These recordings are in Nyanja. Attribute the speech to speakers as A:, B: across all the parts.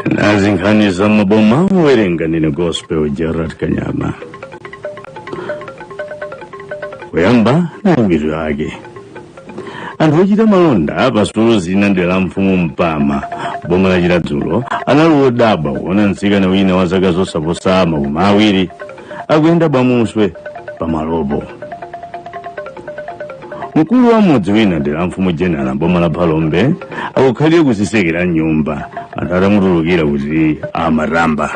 A: nazi nkhani za mmaboma owerenga ndine gospel gerald kanyama kuyamba nayi mitu yake anthu ochita malonda pa sitolo zina mdera la mfumu mpama mboma la chiradzulu anali odabwa kuona mtsikana wina wa zaka zosaposa makumi awiri akuyenda bwamuswe pa malopo mkulu wa mmudzi wina mdera la mfumu jenala mboma la phalombe akukhalira kudzitsekera mnyumba anthu atamutulukira kuti amatamba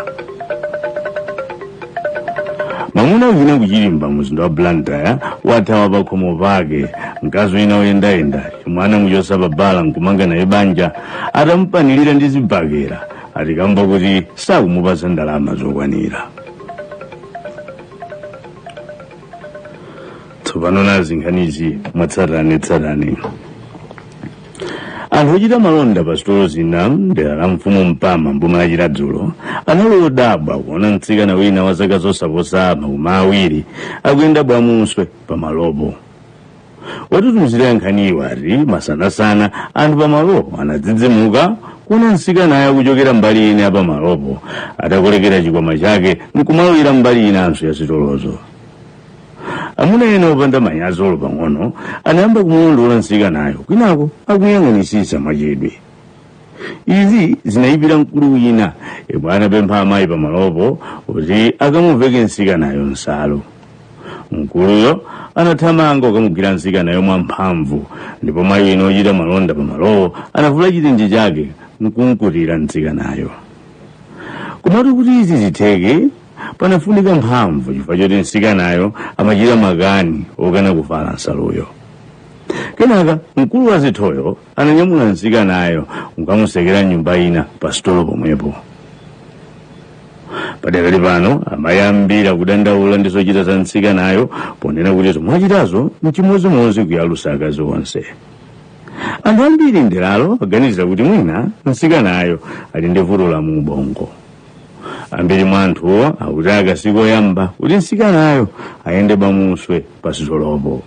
A: mwamuna wina ku chirimba mumzinda wa blantyre wathawa pakhomo pake mkazi wina woyendayenda yemwe anamuchotsa pa bala nkumanga naye banja atamupanilira ndi zibakera ati kamba kuti sakumupatsa ndalama zokwanira tsopano nazi nkhanizi mwatsatanetsatane anthu ochita malonda pa sitolo zina mdera la mfumu mpama mboma la chiradzulu anali odabwa kuona mtsikana wina wa zaka zosaposa makumi awiri akuyenda bwamuswe pa malopo watitumizira nkhaniyo wati masanasana anthu pa malopo anadzidzimuka kuona mtsikanayo akuchokera mbali ina ya pa malopo atakolekera chikwama chake nkumalowera mbali inanso ya sitolozo amuna ena opanda manyazi olo pang'ono anayamba kumulondola mtsikanayo kwinako akuyang'anitsitsa mwachidwi izi zinayipira mkulu wina yemwe anapempha amayi pamalopo kuti akamuveke mtsikanayo nsalu mkuluyo anathamanga kukamugwira mtsikanayo mwamphamvu ndipo mayi wina ochita malonda pamalowo anavula chitenje chake nkumkutira mtsikanayo komatu kuti izi zitheke panafunika mphamvu chifukwa choti mtsikanayo amachita makani okana kuvala nsaluyo kenaka mkulu wadzithoyo ananyamula mtsikanayo nkukamutsekera mnyumba ina pa sitolo pomwepo padakali pano amayi ambiri akudandaula ndi zochita za mtsikanayo ponena kuti zomwe wachitazo mchimodzimodzi kuyalusa akazi onse anthu ambiri mderalo aganizira kuti mwina mtsikanayo ali ndi vuto la mu ubongo ambiri mwa anthuwo akuti aka sikoyamba kuti mtsikanayo ayende bwamuswe pasitolopo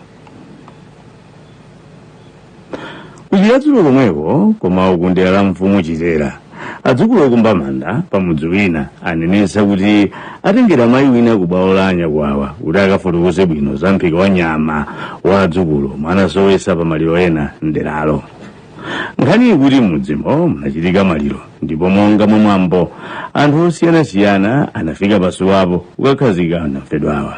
A: ku chiradzulu komweko koma uku mdera la mfumu chitera adzukulu okumba manda pamudzi wina anenetsa kuti atengera mayi wina ku bwalo la anyakwawa kuti akafotokoze bwino za mphika wa nyama wa adzukulu omwe anasowetsa pa maliro ena mderalo nkhani ikuti mmudzimo munachitika maliro ndipo monga mwa mwambo anthu osiyanasiyana anafika pasiwapo kukakhazika anamfedwawa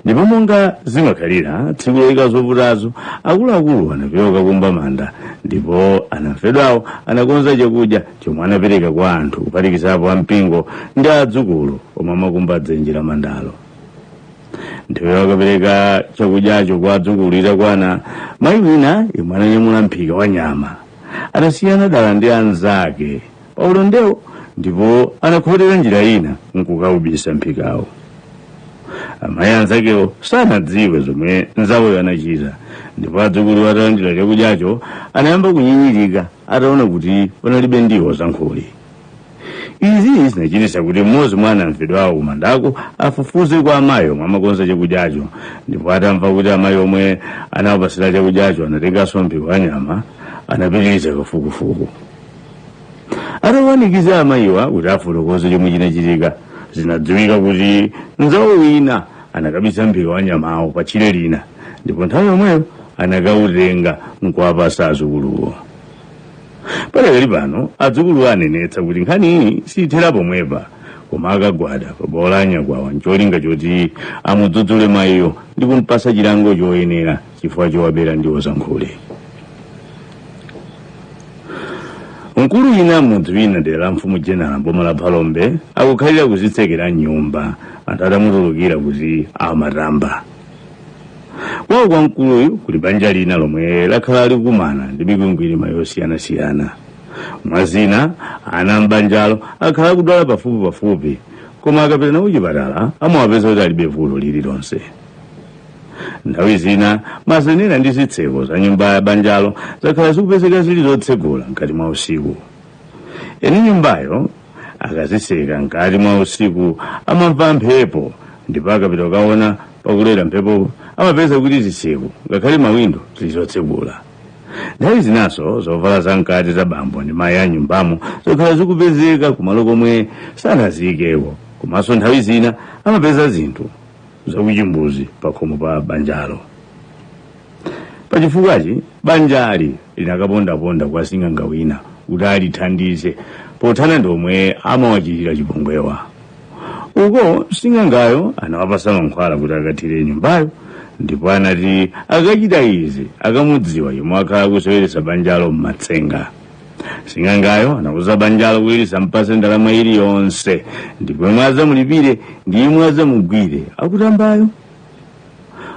A: ndipo monga zimakhalira tsiku loyika zovutazo akuluakulu anapita kukumba manda ndipo anamfedwawo anakonza chakudya chomwe anapereka kwa anthu kuphatikizapo ampingo ndi adzukulu omwe amakumba dzenje la mandalo nthawi yokapereka chakudyacho kwa adzukulu itakwana mayi wina yemwe ananyamula mphika wa nyama anasiyana dala ndi anzake pa ulendowo ndipo anakhotera njira ina nkukaubisa mphikawo amayi anzakewo sanadziwe zomwe nzawoyo anachita ndipo adzukulu atalandira chakudyacho anayamba kunyinyirika ataona kuti panalibe ndiwo zankhuli izi zinachititsa kuti mmodzi mwa anamfedwawo kumandako afufuze kwa amayi omwe amakonza chakudyacho ndipo atamva kuti amayi omwe anawapatsira chakudyacho anatenganso mphika wa nyama anapitiriza kafukufuku atawanikiza amayiwa kuti afotokoze chomwe chinachitika zinadziwika kuti mzawo wina anakabisa mphika wa nyamawo pa tchire lina ndipo nthawi yomweyo anakautenga nkuwapatsa adzukuluwo padakali pano adzukulu anenetsa kuti nkhaniyi siyithera pomwepa koma akagwada pa bwalo la nyakwawa ncholinga choti amudzudzule mayiyo ndi kumpatsa chilango choyenera chifukwa chowabera ndiwo zankhuli mkulu wina mmudzi wina mdera la mfumu jenala mboma la phalombe akukhalira kudzitsekera mnyumba anthu atamutulukira kuti amatamba kwawo kwa mkuluyu kuli banja lina lomwe lakhala likukumana ndi mikwingwirima yosiyanasiyana mwa zina ana m'banjalo akhala akudwala pafupi pafupi koma akapita nawo kuchipatala amawapeza kuti alibe vuto lililonse nthawi zina mazenera ndi zitseko za nyumba ya banjalo zakhala zikupezeka zili zotsegula mkati mwa usiku eni nyumbayo akazitseka mkati mwa usiku amamva mphepo ndipo akapita kukaona pakulowera mphepo amapeza kuti zitseko ngakhale mawindo zili zotsegula nthawi zinanso zovala za mkati za bambo ndi mayi a mnyumbamo zakhala zikupezeka kumalo komwe sanaziyikeko komanso nthawi zina amapeza zinthu zakuchimbuzi pakhomo pa banjalo pa chifukwachi banjali linakapondaponda kwa sing'anga wina kuti alithandize pothana ndi omwe amawachitira chipongwewa uko sing'angayo anawapatsa mankhwala kuti akathire mnyumbayo ndipo anati akachita izi akamudziwa yemwe wakhala akuseweretsa banjalo m'matsenga sing'angayo anauza banjalo kuti lisampatse ndalama iliyonse ndipo yemwe adzamulipire ndi yemwe adzamugwire akutambayo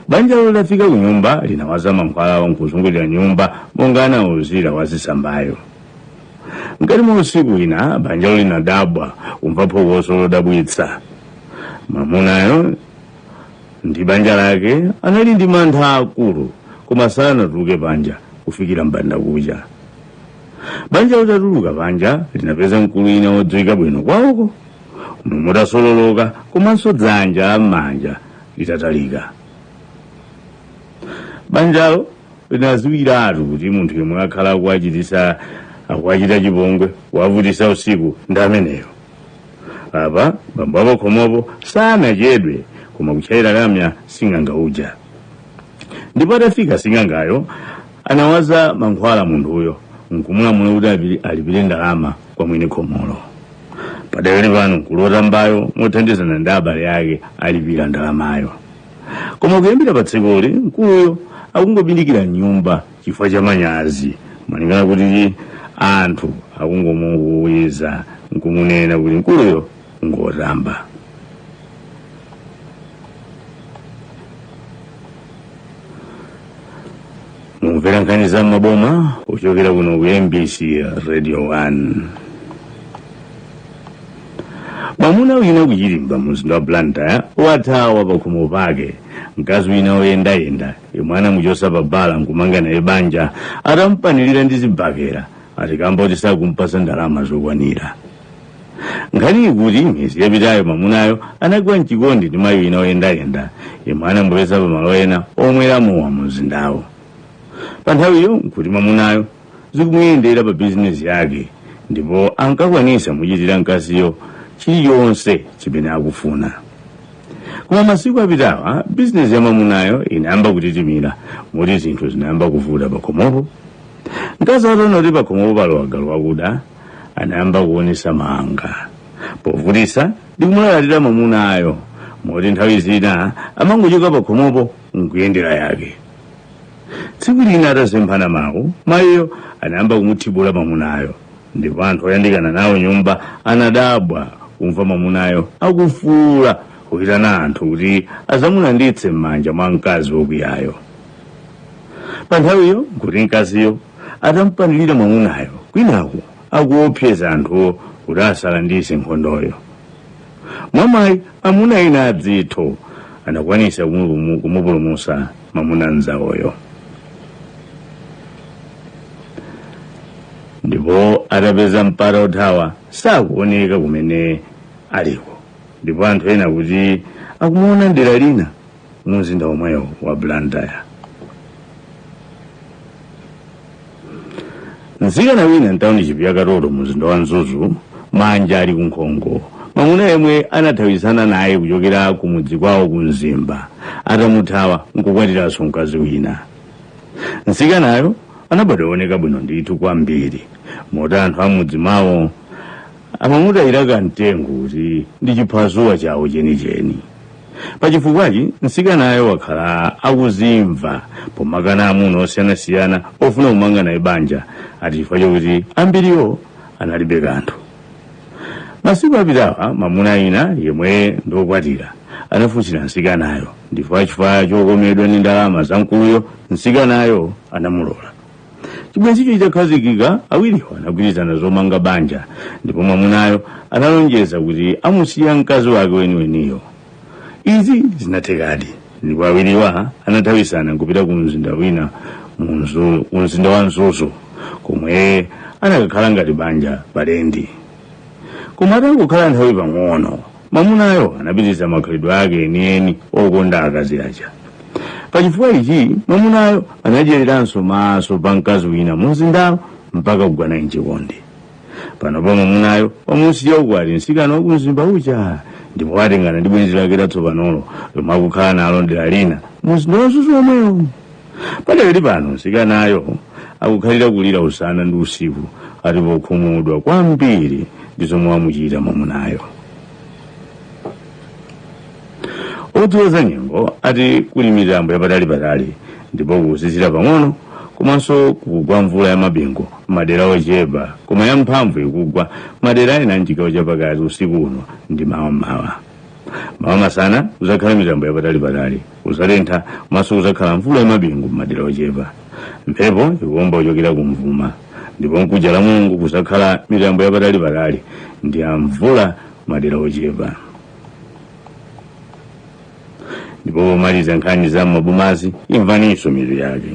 A: banjalo litafika kunyumba linawaza mankhwalawo nkuzungulira mnyumba monga anauzira wazitsambayo mkati mwa usiku wina banjalo linadabwa kumva phokoso lodabwitsa mwamunayo ndi banja lake anali ndi mantha akulu koma sanatuluke panja kufikira mbanda kucha banja litatuluka panja linapeza mkulu wina wodziwika bwino kwawoko mutu utasololoka komanso dzanja lamanja litatalika banjalo linadziwiratu kuti munthu yemwe wakhala akuwachitisa akuwachita chipongwe kuwavutisa usiku ndi ameneyo apa bambo apakhomopo sanachedwe koma kutchayira lamya sing'anga uja ndipo atafika sing'angayo anawaza mankhwala munthuyo nkumulamula kuti apili- alipire ndalama kwa mwini khomolo padakali pano mkulu wotambayo mothandizana ndi abale ake alipira ndalamayo koma kuyambira pa tsikuli mkuluyo akungobindikira mnyumba chifukwa cha manyazi malingana kuti anthu akungomukuwiza nkumunena kuti mkuluyo ngotamba mukumvera nkhani za mmaboma kuchokera kuno ku mbc radio 1 mwamuna wina kuchilimba mumzinda wa blantyre wathawa pakhomo pake mkazi wina woyendayenda yemwe anamuchotsa pa bala nkumanga naye banja atamupanilira ndi zibakera ati kamba kuti sakumpasa ndalama zokwanira nkhani ikuti miyezi yapitayo mamunayo anagwa mchikondi ndi mayi wina oyendayenda yemwe anamupeza pamalo ena omwera mowa mu mzindawo pa nthawiyo nkuti mamunayo zikumuyendera pa bizinesi yake ndipo ankakwanisa muchitira mkaziyo chilichonse chimene akufuna koma masiku apitawa bizinesi ya mamunayo inayamba kutitimira moti zinthu zinayamba kuvuta pakhomopo mkazi ataona kuti pakhomopo palowa galu wakuda anayamba kuonesa mawanga povutisa ndi kumulalatira mamunayo moti nthawi zina amangochoka pakhomopo nkuyendera yake tsiku lina atasemphana mawu mayiyo anayamba kumuthibula mamunayo ndipo anthu oyandikana nawo nyumba anadabwa kumva mamunayo akufuula kuyitana anthu kuti azamulanditse m'manja mwa mkazi wokwiyayo pa nthawiyo nkuti mkaziyo atamupanilira mwamunayo kwinaku akuopseza anthuwo kuti asalandise nkhondoyo mwamayi amuna ena adzitho anakwanisa kumupumu- kumupulumusa mwamuna mzawoyo ndipo atapeza mpata othawa sakuoneka kumene aliko ndipo anthu ena akuti akumuona ndera lina mumzinda womwewo wa blantyre mtsikana wina mtawunishipi ya katoto mumzinda wa mzuzu manja ali kunkhongo mwamuna yemwe anathawizana naye kuchokera kumudzi kwawo ku mzimba atamuthawa nkukwatiranso mkazi wina mtsikanayo anabadwa ooneka bwino ndithu kwambiri moti anthu ammudzi mwawo amamutayira kamtengo kuti ndi chiphazuwa chawo chenicheni pachifukwachi mtsikanayo wakhala akuzimva pomakana amuna osiyanasiyana ofuna kumanga naye banja ati chifukwa chokuti ambiriwo analibe kanthu masiku apitawa mamuna wina yemwe ndiokwatira anafunsira mtsikanayo ndipo chifukwa chokomedwa ndi ndalama za mkuluyo mtsikanayo anamulola chibwenzicho chitakhazikika awiriwo anagwirizana zomanga banja ndipo mwamunayo analonjeza kuti amusiya mkazi wake weniweniyo izi zinathekadi ndipo awiriwa anathawisana nkupita ku mzinda wina mu mumzinda wa mzuzu komwe anakakhala ngati banja palendi koma atangokhala nthawi pang'ono mwamunayo anapitiriza makhalidwe ake enieni okonda akazi aja pachifukwa ichi mwamunayo anadyeriranso maso pa mkazi wina mumzindawo mpaka kugwa naye mchikondi panopa mwamunayo wamusiya ukwati msikana wakumzimba uja ndipo watengana ndi bwenzi lake latsopanolo lomwe akukhala nalo dera lina mumzinda wa mzuzu omwewo padakali pano mtsikanayo akukhalira kulira usana ndi usiku ati pokhumudwa kwambiri ndi zomwe wamuchita mwamunayo odziwa za nyengo ati kuli mitambo yapatalipatali ndipo kuzizira pang'ono komanso kugwa mvula ya mabingu madera ochepa koma ya mphamvu ikugwa madera ena mchigawo chapakati usiku uno ndi mawa mmawa mawa masana kuzakhala mitambo yapatalipatali kuzatentha komanso kuzakhala mvula yamabingu m'madera ochepa mphepo ikuomba kuchokera kumvuma ndipo mkuja lamulungu kuzakhala mitambo yapatalipatali ndi ya mvula madera ochepa ndipo pomaliza nkhani za m'mabomazi imvaninso mitu yake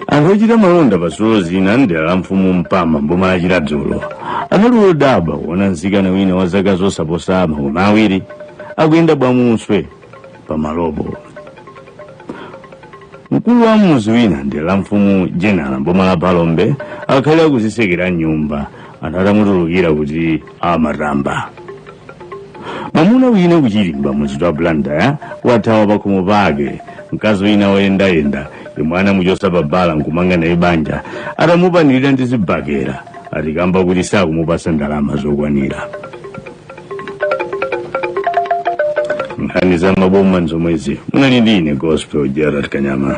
A: anthu ochita malonda pa sitolo zina mdera la mfumu mpama mboma la chiradzulo anali odabwa kuona mtsikana wina wa zaka zosaposa makumi awiri akuyenda bwamuswe pa malopo mkulu wa mmudzi wina mdera la mfumu jenala mboma la phalombe akhala akuzitsekera mnyumba anthu atamutulukira kuti amatamba mwamuna wina kuchirimba mumzinda wa blantyre wathawa pakhomo pake mkazi wina woyendayenda yemwe anamuchotsa pa bala nkumanga naye banja atamupanilira ndi zibakera atikamba kuti sakumupatsa ndalama zokwanira nkhani za maboma nzomwezi munali ndi ine gospel gerald kanyama